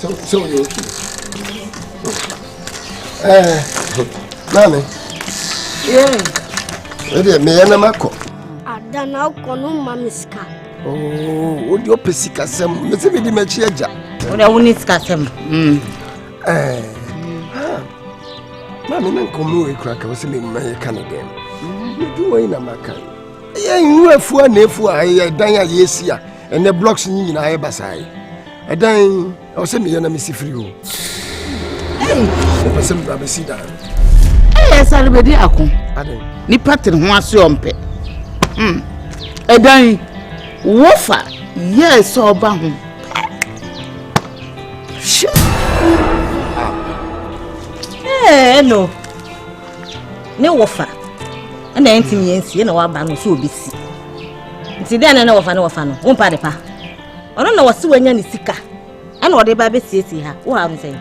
So, so you okay? Eh, nani? Yeah. Ebi me yana mako. Ada na oko no mamiska. Oh, odi ope sika sem. Me se me di me chi eja. Odi awuni sika sem. Mm. Eh. Mami na nkomo e kura ka wo se me mma ye ka ne dem. Me duwo ina maka. ɛyɛ nhu afua na afua ɛyɛ dan a yɛsi a ɛnɛ blocks yi nyinaa yɛ basae ɛdan ɛwɔ sɛ meyɛ na mesi firi o ɛpɛ sɛ mebra bɛsi dan ɛyɛ sare bɛdi ako nipa tere ho ase ɔmpɛ hmm. ɛdan wofa yɛɛ sɛ ɔba ho ɛɛ ah. eh, no ne wɔfa ɛna ɛntumi yɛn si ɛna waba no so obesi nti dɛn na ɛna wɔfa ne wɔfa no wɔn pa adepa ɔno na wɔsi wɔnya ne sika ɛna ɔde ba abɛsiesie ha wɔ ha no sɛn.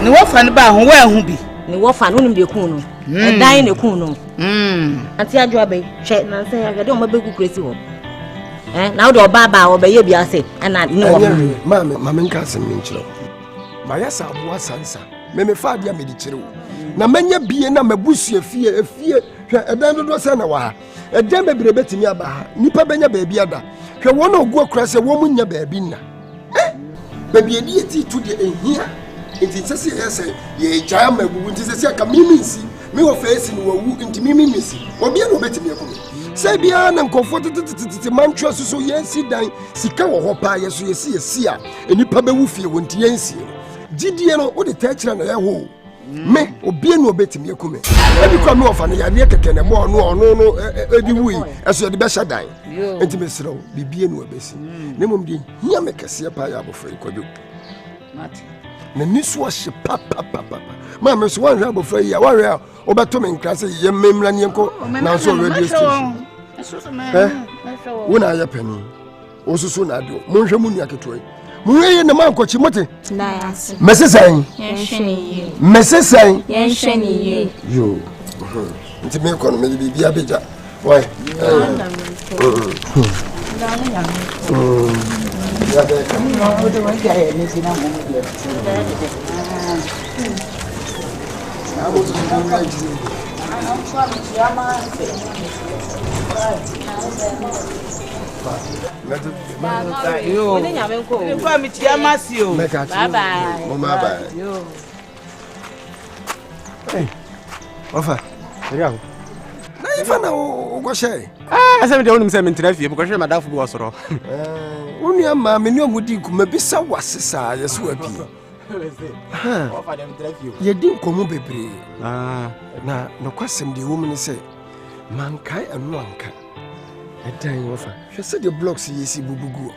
ne wɔfa no baa ho wɔahu bi. ne wɔfa no wonim deɛ kun no hmm. ɛdan na kun no. Hmm. ate adwo abɛyi hwɛ nansa yɛ ahwɛ dɛ wɔn abɛgu kura si hɔ ɛn na wode ɔbaa baa ɔbɛyɛ bi ase ɛna ne wɔfa. maame maame nka asɛm ne nkyerɛ mayɛ sɛ aboa sansa. Me mefa adeɛ a mede kyerɛ wo na manya bie na mabusua fie efie hwɛ ɛdan dodoɔ sɛ na wɔ ha ɛdan bebree bɛtumi aba ha nnipa bɛnya baabi ada hwɛ wɔn a ɔgu akora sɛ wɔn mu nya baabi nna eh baabi yɛde yɛ ti tu deɛ ɛhia nti sɛ sɛ yɛyɛ sɛ yɛgyae ama abubu nti sɛ sɛ ɛka mimi nsi me wɔ fɛ si no wawu nti mimi misi obia na ɔbɛtumi aku me sɛ biara na nkɔfoɔ tetetetetete mantwerɛ so so yɛsi dan sika wɔ hɔ paa yɛ so yɛsi yɛsi a nnipa bɛwu fie wɔ nti yɛnsie no gyidie no wode taa kyerɛ no ɛho mm. me obie ne ɔbɛtumi aku me ɛbi kora me ɔfa no yadeɛ kɛkɛ ne bɔɔ no ɔno no ɛdi wui ɛso yɛde bɛhyɛ dan enti mesrɛ wo biribie ne ɔbɛsi mm. na mmom deɛ hia me kɛseɛ paa yɛ abɔfra yi kwadwo n'ani so ɔhye papapapa maa me so woanhwɛ abɔfra yi a woahwɛ a wobɛto me nkra sɛ yɛ mmemmra ne yɛnkɔ nanso radio station wo na ayɛ panin Osusu na adio. Monhwɛ mo nua ketewa yi. Monhwɛ yie na mankɔkyi mote. Mɛse sɛn. Mɛse sɛn. Yɛnhwɛ ne yie. Yoo. Nti mekɔ no mede biribi abɛgya. Wai. Thank you. ɔfa ɛyɛ awo na yɛ fa na wokɔhyɛ ɛsɛ ah, mede wonim sɛ mentena fie mekɔhwɛ madafo bi wɔ sorɔ eh, wo nua maa me ne ɔmu di nkuma bi sɛ wase saa yɛ so apii yɛdi nkɔmmɔ bebree ah. na nokwasɛm deɛ wɔ mu ne sɛ mankae ɛno anka ɛdan wɔ fa hwɛ sɛdeɛ blocks yɛ si bubu guɔ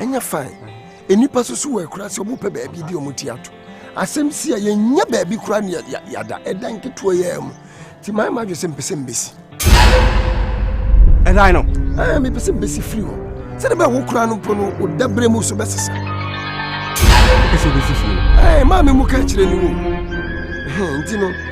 ɛnyɛ fine nnipa soso wɔ akura sɛ wɔpɛ baabi de wɔn ti ato asɛm si a yɛnyɛ baabi kura ne yɛada ɛdan ketewa yɛ mu nti maa ma adwe sɛ mpɛ sɛ mbɛsi ɛdan no ɛɛ mepɛ sɛ mbɛsi firi hɔ sɛde bɛɛ wo kura no mpo no woda berɛ mu so bɛsesa ɛsɛ bɛsi fie ɛɛ maa me mu ka kyerɛ ne mu nti no